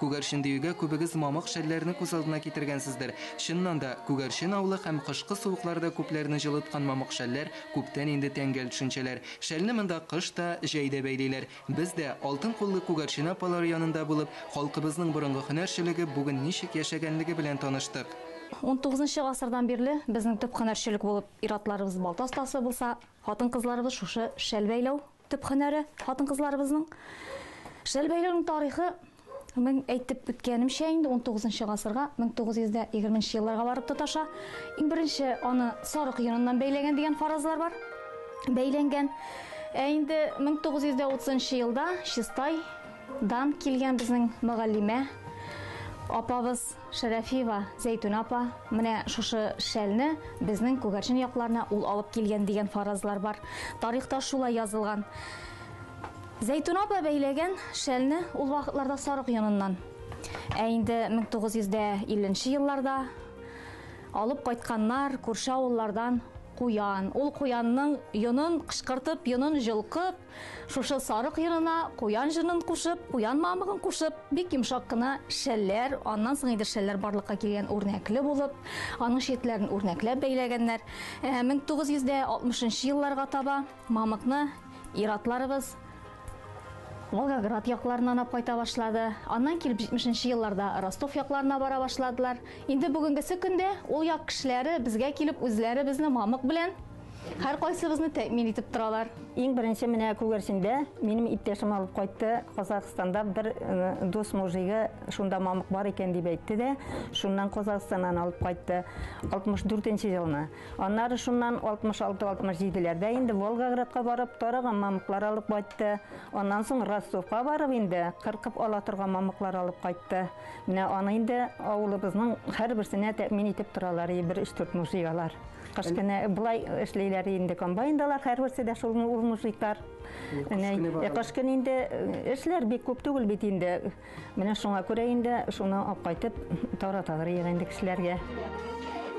Күгәрчен диюгә күбегез мамык шәлләрне күз алдына китергәнсездер. Чыннан да, Күгәрчен авылы һәм кышкы суыкларда күпләрне җылыткан мамык шәлләр күптән инде тәңгәл төшенчәләр. Шәлне монда кыш та, җәй дә бәйлиләр. Без дә, алтын куллы Күгәрчен апалары янында булып, халкыбызның борынгы һөнәрчелеге бүген ничек яшәгәнлеге белән таныштык. Унтугызынчы гасырдан бирле безнең төп һөнәрчелек булып ир-атларыбыз балта остасы булса, хатын-кызларыбыз шушы шәл бәйләү, Төп һөнәре, хатын-кызларыбызның. Шәл бәйләүнең тарихы, мин әйтеп үткәнемчә, инде унтугызынчы гасырга, 1920 нче елларга барып тоташа. Иң беренче аны сарык йоныннан бәйләгән дигән фаразлар бар. Бәйләнгән. Ә инде 1930 нчы елда Чистай дан килгән безнең мөгаллимә апабыз Шәрәфиева Зәйтүнә апа, менә шушы шәлне безнең Күгәрчен якларына ул алып килгән дигән фаразлар бар. Тарихта шулай язылган. Зәйтүнә апа бәйләгән шәлне ул вакытларда сарык йоныннан. Ә инде 1950 елларда алып кайтканнар күрше авыллардан куян. Ул куянның йонын кычкыртып, йонын җолкып, Шушы сарык йырына куян җырын кушып, куян мамыгын кушып, бик йомшак кына шәлләр, аннан соң инде шәлләр барлыкка килгән үрнәкле булып, аның читләрен үрнәкләп бәйләгәннәр. 1960 нчы елларга таба мамыкны ир-атларыбыз Волгоград якларыннан алып кайта башлады. Аннан килеп 70 нчы елларда Ростов якларына бара башладылар. Инде бүгенгесе көндә ул як кешеләре безгә килеп үзләре безне мамык белән Һәркайсыбызны тәэмин итеп торалар. Иң беренче менә күгәрчендә минем иптәшем алып кайтты. Казахстанда бер э, дус мужигы шунда мамык бар икән дип әйтте дә, шуннан Казахстаннан алып кайтты. 64-нче елны. Аннары шуннан 66-67-ләрдә инде Волгоградка барып тараган мамыклар алып кайтты. Аннан соң Ростовка барып инде кыркып ала торган мамыклар алып кайтты. Менә аны инде авылыбызның һәрберсенә тәэмин итеп торалар, бер 3-4 мужигалар. Кыш көне болай эшлиләр инде комбайндалар, һәрберсе дә шул ул мужиклар. Кыш көне инде эшләр бик күп түгел бит инде. Менә шуңа күрә инде шуны алып кайтып тараталар ягы инде кешеләргә.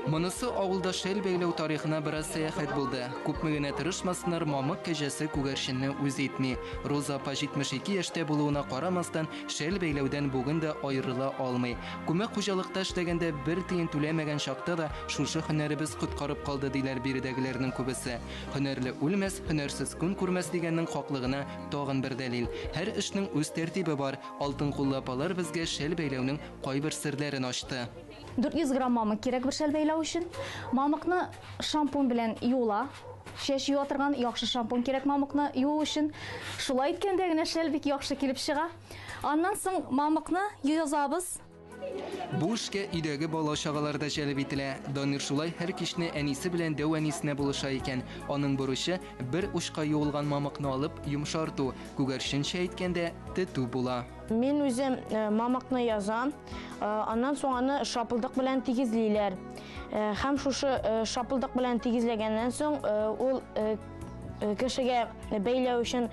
Монысы авылда шәл бәйләү тарихына бераз сәяхәт булды. Күпме генә тырышмасыннар, мамык кәҗәсе күгәрченне үз итми. Роза апа 72 яшьтә булуына карамастан, шәл бәйләүдән бүген дә аерыла алмый. Күмәк хуҗалыкта эшләгәндә бер тиен түләмәгән чакта да Шушы һөнәребез коткарып калды, диләр биредәгеләрнең күбесе. Һөнәрле үлмәс, һөнәрсез көн күрмәс дигәннең хаклыгына тагын бер дәлил. Һәр эшнең үз тәртибе бар. Алтын куллы апалар безгә шәл бәйләүнең кайбер серләрен ачты. 400 грамм мамык кирәк бер шәл бәйләү өчен. Мамыкны шампунь белән юыла. Чәч юа торган яхшы шампунь кирәк мамыкны юу өчен. Шулай иткәндә генә шәл бик яхшы килеп чыга. Аннан соң мамыкны язабыз. Бу эшкә өйдәге бала-чагалар да җәлеп ителә. Данир шулай һәр кичне әнисе белән дәү әнисенә булыша икән. Аның бурычы, бер учка юылган мамыкны алып, йомшарту, күгәрченчә әйткәндә, тетү була. Мин үзем мамыкны язам, аннан соң аны шапылдык белән тигезлиләр. Һәм шушы шапылдык белән тигезләгәннән соң ул кешегә бәйләү өчен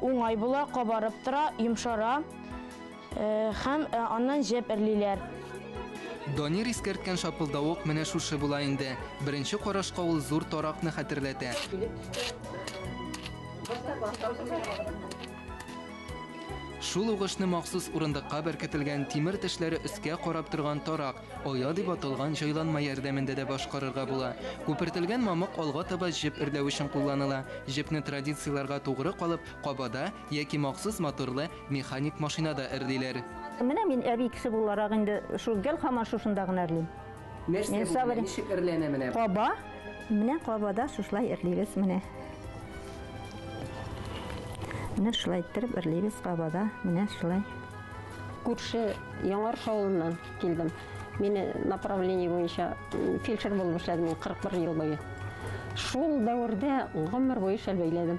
уңай була, кабарып тора, йомшара. Һәм аннан җеп эрлиләр. Данир искәрткән шапылдавык менә шушы була инде. Беренче карашка ул зур таракны хәтерләтә. Шул угышны махсус урындыкка беркетелгән тимер тешләре өскә карап торган тарак, оя дип аталган җайланма ярдәмендә дә башкарырга була. Күпертелгән мамык алга таба җеп эрләү өчен кулланыла. Җепне традицияләргә тугры калып, кабада, Яки махсус моторлы механик машинада эрлиләр. Менә мин әби кеше буларак инде шул гел һаман шушында гына эрлим. Нәрсә Мин бу, сабыр- менә ничек эрләнә менә бу? Каба. Менә кабада шушылай эрлибез менә. Менә шулай иттереп эрлибез кабада. Менә шулай. Күрше Яңарыш авылыннан килдем. Мине направление буенча м, фельдшер булып эшләдем мин 41 ел буе. Шул дәвердә гомер буе шәл бәйләдем.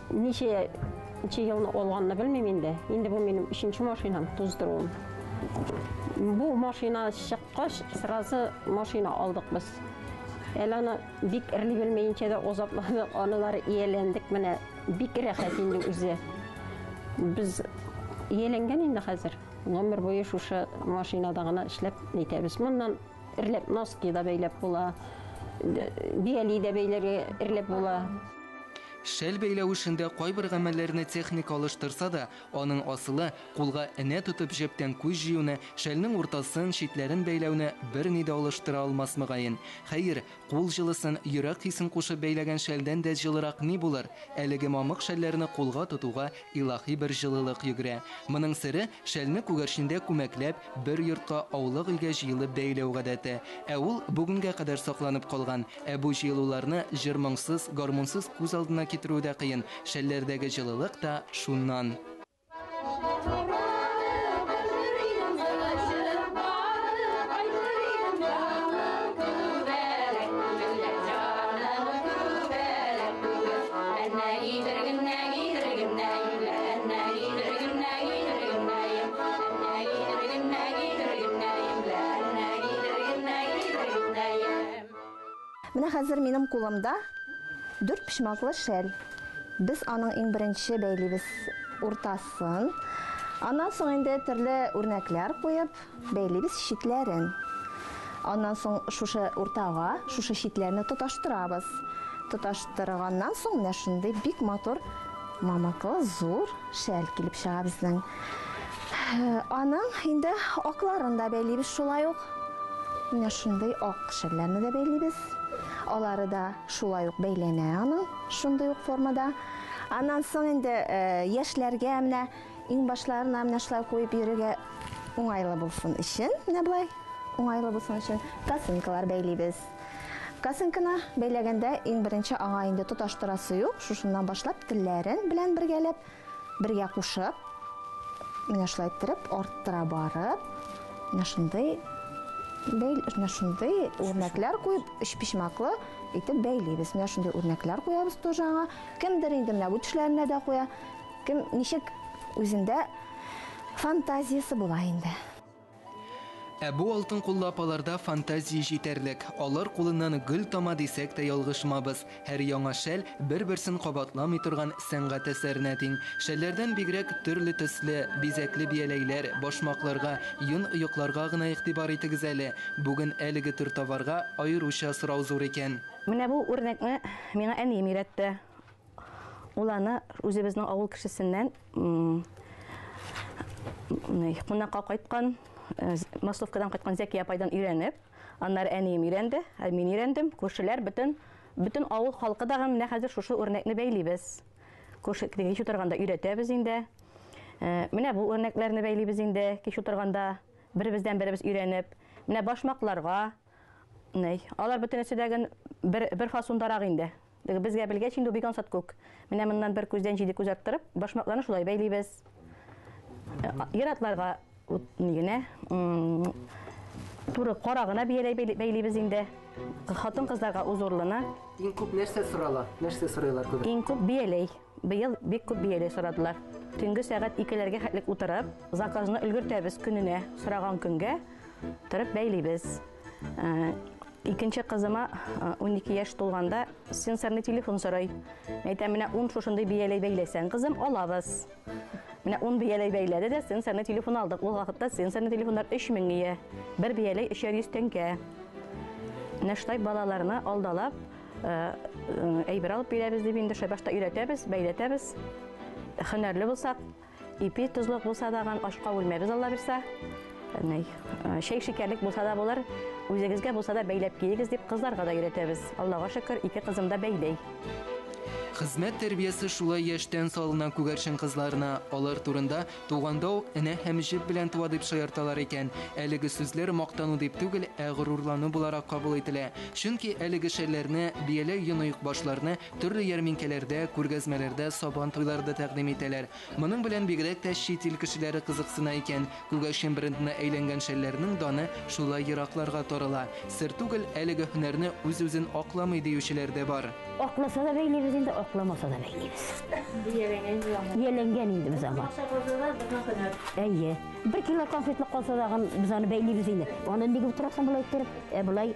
Ничә ничә елны алганны белмим инде. Инде бу минем өченче машинам, туздыруым. Бу машина чыккач, сразу машина алдык без. Әле аны бик эрли белмәенчә дә озатладык, аналары ияләндек менә. Бик рәхәт инде үзе. Без ияләнгән инде хәзер. Гомер буе шушы машинада гына эшләп нитәбез. Моннан эрләп носки да бәйләп була. Бияли дә бәйләргә эрләп була. Шәл бәйләү эшендә кайбер гамәлләрне техника алыштырса да, аның асылы, кулга энә тотып җәптән күз җыюны, шәлнең уртасын, читләрен бәйләүне берни дә алыштыра алмас мөгаен. Хәер, кул җылысын, йөрәк хисен кушып бәйләгән шәлдән дә җылырак ни булыр? Әлеге мамык шәлләрне кулга тотуга Илаһи бер җылылык йөгерә. Моның сере, шәлне күгәрчендә күмәкләп, бер йортка, аулак-илгә җыелып бәяләү гадәте. Ә ул, бүгенгә кадәр сакланып калган. Ә бу җыелуларны җыр-моңсыз, гармунсыз күз алдына китерү дә кыен, шәлләрдәге җылылык та шуннан. Менә хәзер минем кулымда дүрт почмаклы шәл. Без аның иң беренче бәйлибез уртасын. Аннан соң инде төрле үрнәкләр куеп, Бәйлибез читләрен. Аннан соң шушы уртага шушы читләрне тоташтырабыз. Тоташтырганнан соң менә шундый бик матур мамыклы зур шәл килеп чыга безнең. Аның инде акларын да бәйлибез шулай ук. Менә шундый ак шәлләрне дә бәйлибез. Алары да шулай ук бәйләнә аның шундый ук формада. Аннан соң инде яшьләргә менә Иң башларына менә шулай куеп йөрергә уңайлы булсын өчен, менә болай уңайлы булсын өчен косынкалар бәйлибез. Косынканы бәйләгәндә иң беренче аңа инде тоташтырасы юк, шушыннан башлап телләрен белән бергәләп, бергә кушып, менә шулай иттереп арттыра барып, менә шундый бәйл, менә шундый үрнәкләр куеп, өчпочмаклы итеп бәйлибез. Менә шундый үрнәкләр куябыз тоже аңа. Кемдер инде менә бу төшләренә дә куя. Кем ничек үзендә фантазиясе була инде. Ә бу алтын куллы апаларда фантазия җитәрлек. Алар кулыннан гөл тама дисәк тә ялгышмабыз. Һәр яңа шәл, бер-берсен кабатламый торган сәнгать әсәренә тиң. Шәлләрдән бигрәк, төрле төсле, бизәкле бияләйләр, башмакларга, йон оекларга гына игътибар итегез әле. Бүген әлеге төр товарга аеруча сорау зур икән. Менә бу үрнәкне миңа әнием өйрәтте. Ул аны үзебезнең авыл кешесеннән кунакка кайткан, э, Масловкадан кайткан Зәкия апайдан өйрәнеп, аннары әнием өйрәнде, ә мин өйрәндем. Күршеләр бөтен бөтен авыл халкы да менә хәзер шушы үрнәкне бәйлибез. Күрше кич утырганда өйрәтәбез инде. Э, менә бу үрнәкләрне бәйлибез инде кич утырганда беребездән беребез өйрәнеп. Менә башмакларга, Алар бөтенесе дә бер бер фасондарак инде. Безгә белгәч инде ул бик ансат күк. Менә моннан бер күздән җиде күз арттырып, башмакларны шулай бәйлибез. Иратларга ни генә туры кара гына бияләй бәйлибез инде. Хатын кызларга узурлыны. Иң күп нәрсә сорала? Нәрсә сорыйлар күбрәк? Иң күп бияләй. Быел бик күп бияләй сорадылар. Төнге сәгать 2-ләргә хәтлек утырып, заказны өлгертәбез көненә, сораган көнгә торып бәйлибез. Икенче кызыма унике яшь тулганда сенсорный телефон сорый. Әйтәм, менә ун шушындый бияләй бәйләсәң, кызым, алабыз. Менә ун бияләй бәйләде дә сенсорный телефон алдык. Ул вакытта сенсорный телефоннар 3000 ия. Бер бияләй 300 тәңкә. Менә шулай балаларны алдалап, әйбер алып бирәбез дип инде шулай башта өйрәтәбез, бәйләтәбез. Хөнәрле булсак, Ипи тозлык булса даган, ашка үлмәбез Алла бирсә. Әнәй, шәй шикәрлек булса да булыр, үзегезгә булса да бәйләп киегез дип кызларга да өйрәтәбез. Аллага шөкер, ике кызым да бәйләй. Хезмәт тәрбиясе шулай яшьтән салына күгәрчен кызларына. Алар турында Туганда ук энә һәм җеп белән туа дип шаярталар икән. Әлеге сүзләр мактану дип түгел, ә горурлану буларак кабул ителә. Чөнки әлеге шәлләрне, бияләй йоны-юкбашларны Төрле ярминкәләрдә, күргәзмәләрдә Сабан туйлары да тәкъдим итәләр. Моның белән бигрәк тә чит ил кешеләре кызыксына икән. Күгәрчен брендына әйләнгән шәлләрнең даны шулай еракларга тарала. Сер түгел, әлеге һөнәрне үз-үзен акламый диючеләр дә бар. Акласа да бәйлибез инде, акламаса да бәйлибез. Ияләнгән инде без аңа. Акча калса да, безнең һөнәр. Әйе. Бер кило конфетлык калса дагын, без аны бәйлибез инде. Аны ник утырасың болай иттереп? Ә болай.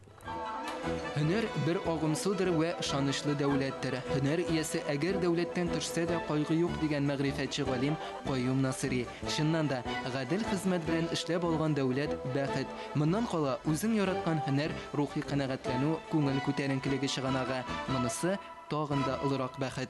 Һөнәр бер агым судыр вә ышанычлы дәүләттер. Һөнәр иясе әгәр дәүләттән төшсә дә кайгы юк, дигән мәгърифәтче галим Каюм Насыйри. Чыннан да, гадел хезмәт белән эшләп алган дәүләт, бәхет. Моннан кала, үзең яраткан һөнәр, рухи канәгатьләнү, күңел күтәренкелеге чыганагы. Монысы, тагын да олырак бәхет.